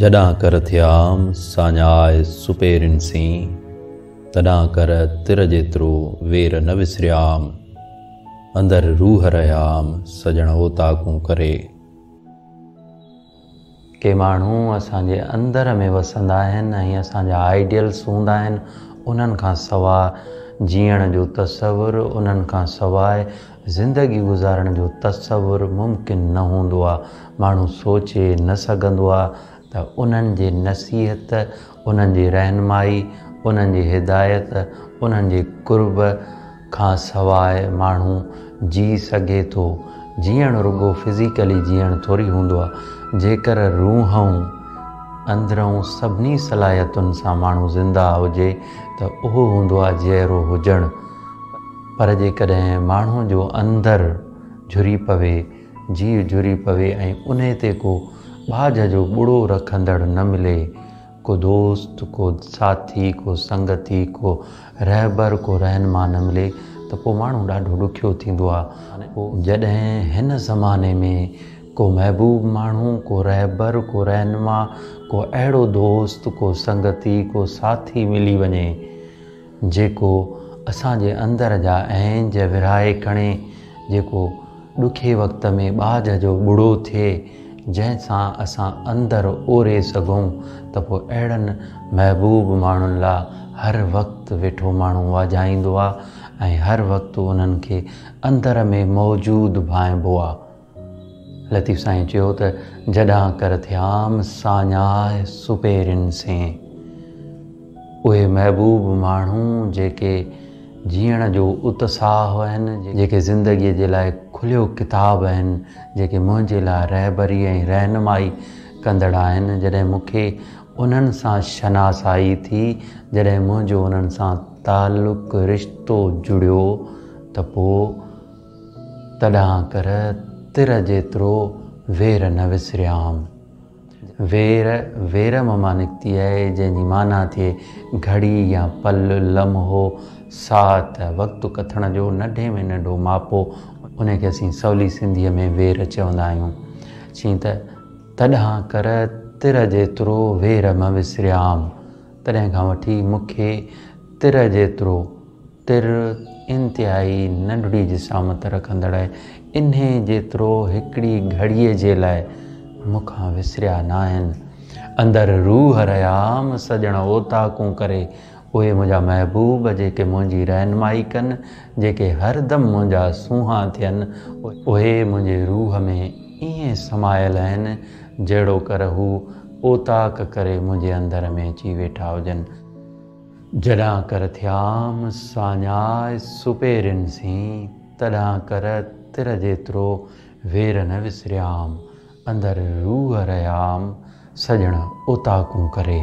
جڏهن ڪر ٿيام ساڃاهه سپهرين سين، تڏهن ڪر تر جيترو وير نه وسريام، اندر روح رهيام سڄڻ اوطاقون ڪري. ڪي ماڻهو اسان جي اندر ۾ وسندا آهن ۽ اسان جا آئيڊيلز هوندا آهن، انهن کان سواء جيئڻ جو تصور، انهن کان سواء زندگي گذارڻ جو تصور ممڪن نه هوندو آ، ماڻهو سوچي نه سگهندو آ ته انهن جي نصيحت، انهن جي رهنمائي، انهن جي هدايت، انهن جي قرب کان سواء ماڻهو جي سگهي ٿو. جيئڻ رڳو فزيڪلي جيئڻ ٿوري هوندو آ، جيڪر روحئون، اندرئون سڀني صلاحيتن سان ماڻهو زنده هجي ته اهو هوندو آ جيئرو هجڻ. پر جيڪڏهن ماڻهو جو اندر جھري پوي، جيء جھري پوي ۽ انهي تي ڪو ٻاجھه جو ٻڙو رکندڙ نه ملي، ڪو دوست، ڪو ساٿي، ڪو سنگتي، ڪو رهبر، ڪو رهنما نه ملي ته پوء ماڻهو ڏاڍو ڏکيو ٿيندو آهي. جڏهن هن زماني ۾ ڪو محبوب ماڻهو، ڪو رهبر، ڪو رهنما، ڪو اهڙو دوست، ڪو سنگتي، ڪو ساٿي ملي وڃي، جيڪو اسان جي اندر جا اهنج ورهائي کڻي، جيڪو ڏکي وقت ۾ ٻاجهه جو ٻڙو ٿئي، جنهن سان اسان اندر اوري سگهون ته پوء اهڙن محبوب ماڻهن لا هر وقت ويٺو ماڻهو واجهائيندو آ ۽ هر وقت انهن کي اندر ۾ موجود ڀانئبو آ. لطيف سائين چيو ته جڏان ڪر ٿيام ساڃاهه سپيرين سين. اهي محبوب ماڻهو جيڪي جيئڻ جو اتساهه آهن، جيڪي زندگيء جي لاء کليو ڪتاب آهن، جيڪي منهنجي لاء رهبري ۽ رهنمائي ڪندڙ آهن، جڏهن مون کي انهن سان شناسائي ٿي، جڏهن منهنجو انهن سان تعلق، رشتو جڙيو ته پوء تڏهن ڪر تر جيترو وير نه وسريام. وير، ويرم مان نڪتي آهي، جنهن جي معنيٰ ٿئي گهڙي يا پل، لمحو، ساعت، وقت ڪٿڻ جو ننڍي ۾ ننڍو ماپو، ان کي اسين سولي سنڌيء ۾ وير چوندا آهيون. چيئن ته، تڏهن ڪر تر جيترو وير نه وسريام، تڏهن کان وٺي مون کي تر جيترو، تر انتهائي ننڍڙي جسامت رکندڙ انهي جيترو هڪڙي گهڙيء جي لاء مون کان وسريا ناهن. اندر روح ريام سڄڻ اوطاقون ڪري اهي منهنجا محبوب جيڪي منهنجي رهنمائي ڪن، جيڪي هردم منهنجا سونهان ٿين، اهي منهنجي روح ۾ ائين سمايل آهن جهڙوڪر هو اوطاق ڪري منهنجي اندر ۾ اچي ويٺا هجن. جڏهن ڪر ٿيام ساڃاء سپيرين سين، تڏهن ڪر تر جيترو وير نه وسريام، اندر روح رهيام سڄڻ اوطاقون ڪري.